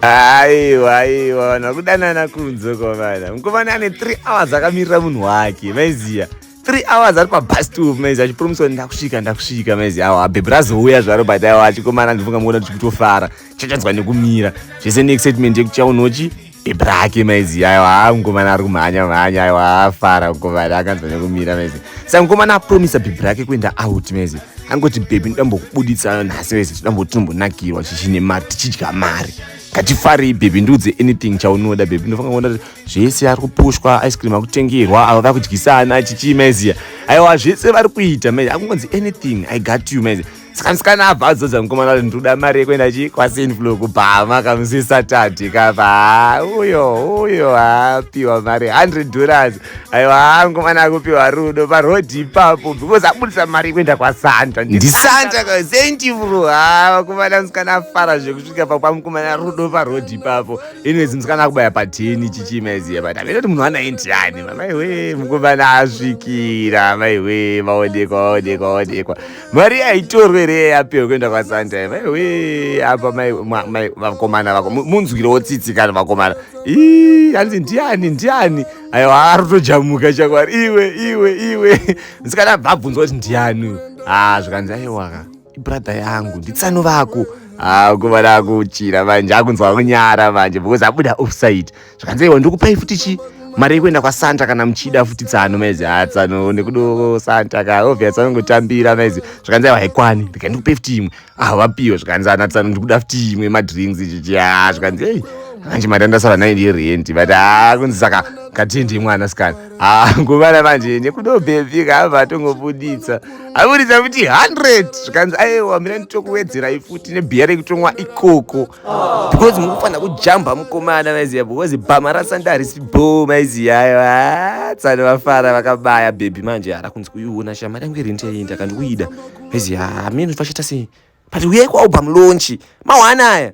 aiwa aiwa vanhu vakudanana kunze kwavana mukomana ane three hours akamirira munhu wake maiziya three hours ari pabus stop maiziya achipromiswa ndakusvika ndakusvika maiziya awa bhebhi razouya zvaro but aiwa achikomana ndifunga muona kuti kutofara chachadzwa nekumira zvese neexcitement yekuchaunochi bhebhi rake maiziya aiwa haa mukomana ari kumhanya mhanya aiwa afara mukomana akanzwa nekumira maiziya saka mukomana apromisa bhebhi rake kuenda out maiziya angoti bhebhi ndambokubuditsa nhasi vese todamboti tombonakirwa chichine mari tichidya mari ngatifarei bhebhi ndiudze anything chaunoda bhebhi ndofanga kuona kuti zvese ari kupushwa ice cream akutengerwa avo vari kudyisana chichii maiziya aiwa zvese vari kuita maizi akungonzi anything i got you maizi saka musikana abva adzodza mukomana kuti ndinoda mari yekuenda chi kwasinflo kubhama kamusi satadhi kapa uyo uyo apiwa mari 100 dollars aiwa hangu mwana akupiwa rudo parodhi ipapo because abudisa mari kuenda kwasanta ndisanta kasentivru ha vakomana musikana afara zvekusvika pakwamukomana rudo parodhi ipapo inwezi musikana akubaya pateni chichimaiziya but amene kuti munhu anaendiyani mamaiwe mukomana asvikira maiwe vaonekwa vaonekwa vaonekwa mari yaitorwa here yayapewa kuenda kwasanta vaiwe apa vakomana vako munzwirewo tsitsi kana vakomana ii hanzi ndiani ndiani aiwa arotojamuka chakwari iwe iwe iwe msikana bvabvunzwa kuti ndiani ha ah, zvikanzi aiwaka ibradha yangu nditsano vako ha ah, kuva dakuchira manje akunzwa kunyara manje because abuda offside zvikanzi iwe ndikupai futi chi mari yekuenda kwasanta kana muchida futi tsano maizi ha ah, tsano nekudo santa ka obvious anongotambira maizi zvikanzi aiwa haikwani ndika ndikupai futi imwe ah vapiwe zvikanzi ana ah, tsano ndikuda futi imwe madrinks chichi ha ah, zvikanzi ei manje mari andasara nayo ndiye rent but ha kunzi saka katindi mwana sikana ha nguvana manje nekudo bhebhi kaava atongobuditsa abuditsa futi hundred zvikanzi aiwa mina nditokuwedzerai futi nebhiya rekutomwa ikoko because mukufanira kujamba mukomana maiziya because bhama rasanda harisi bo maiziya ayo ah, tsani vafara vakabaya bhebhi manje hara kunzi kuiona shamari yangu iri ndiyaenda kandikuida maiziya hameno ah, vachita sei but uyai kwaubha mulonchi mawana aya